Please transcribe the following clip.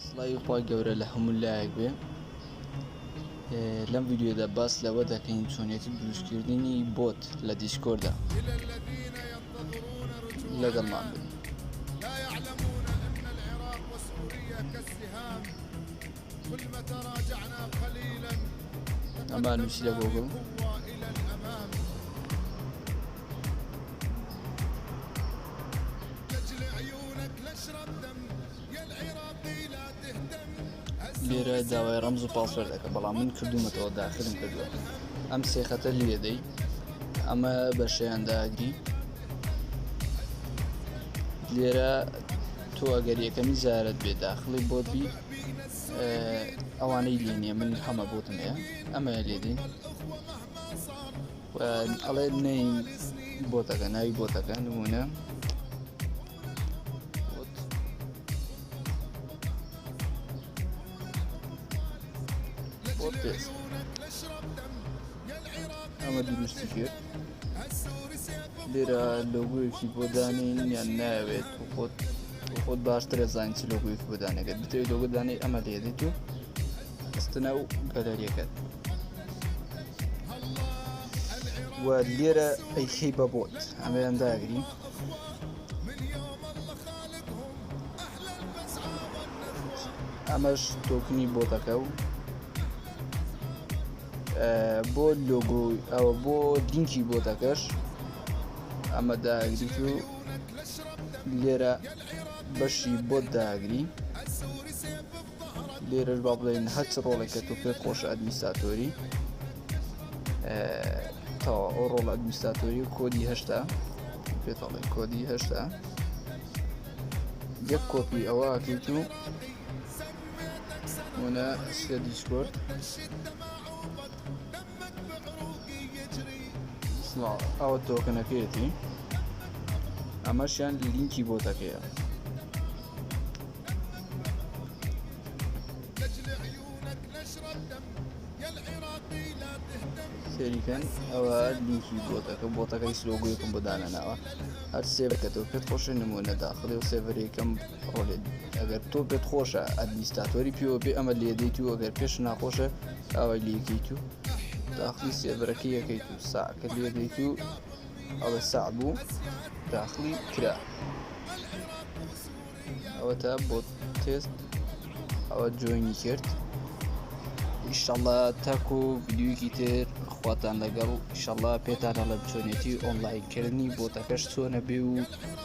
سڵاوی خوای گەورە لە هەموو لایەک بێ لەم ویددیودا باس لەوە دەکەین چۆنێتی دروستکردنی بۆت لە دیسکۆردا لەگەڵمان بن ئەمان نووسی لە گۆگڵ لێرە داوای ڕەمز و پاسەر دەکە بەڵام من کردومەتەوە داخلم کردووە ئەم سێخەتە لێدەی ئەمە بەشیان داگری لێرە تۆ ئەگەر یەکەمی زارت بێ داخلی بۆت بی ئەوانەی لێ نیە من هەمە بۆتم هەیە ئەمەیە لێدین ئەڵێ نەی بۆتەکە ناوی بۆتەکە نمونە ئەمە دروستی کرد لێرە لۆگۆیەکی بۆ دانین یان ناوێت و خۆت خۆت باشترە زانین چ لۆگۆیەکی بۆ دانەکەت بتەوێت لۆگە دانەی ئەمە لێدیت و ئەستنە و گەلەریەکەت و لێرە ئەیخی بە بۆت ئەمەیان داگری ئەمەش تۆکنی بۆتەکە و بۆ لۆگۆ ئەوە بۆ لینکی بۆ دەکەش ئەمە داگری و لێرە بەشی بۆ داگری لێرەش با بڵێن هەچ ڕۆڵێکە تۆ پێ خۆش ئەدمیساتۆری تەوا ئەو ڕۆڵ ئەدمیساتۆری و کۆدی هەشتا پێتەڵێ کۆدی هەشتا یەک کۆپی ئەوە کەیت و هنا سلە دیسکۆرد ئەوە تۆکنەکەیەتی ئەمەشیان لینکی بۆ دەکەیە سەریکەن ئەوە لینکی بۆتەکە بۆتەکەی سلۆگویەکم بۆ دانەناوە هەر سێبکەەوە پێت خۆشە نمونە داخلی و سێڤەرێکم ڕۆلێت ئەگەر تۆ پێت خۆشە ئەدمیستاتۆری پیوە بێ ئەمە لێدەیت و ئەگەر پێش ناخۆشە ئەوەی لێکەیت و داخلی سێبەرەکە یەکەیت و ساکە لێدەیت و ئەڵە سا بوو داخلی کرا ئەوە تا بۆ تێست ئەوە جوێنی کرد ئیشەڵە تاکو ویددیوکی تر خواتان لەگەڵ ئیشەڵە پێتانە لە چۆنێتی ئۆنلایکردنی بۆتەکەش چۆنە بێ و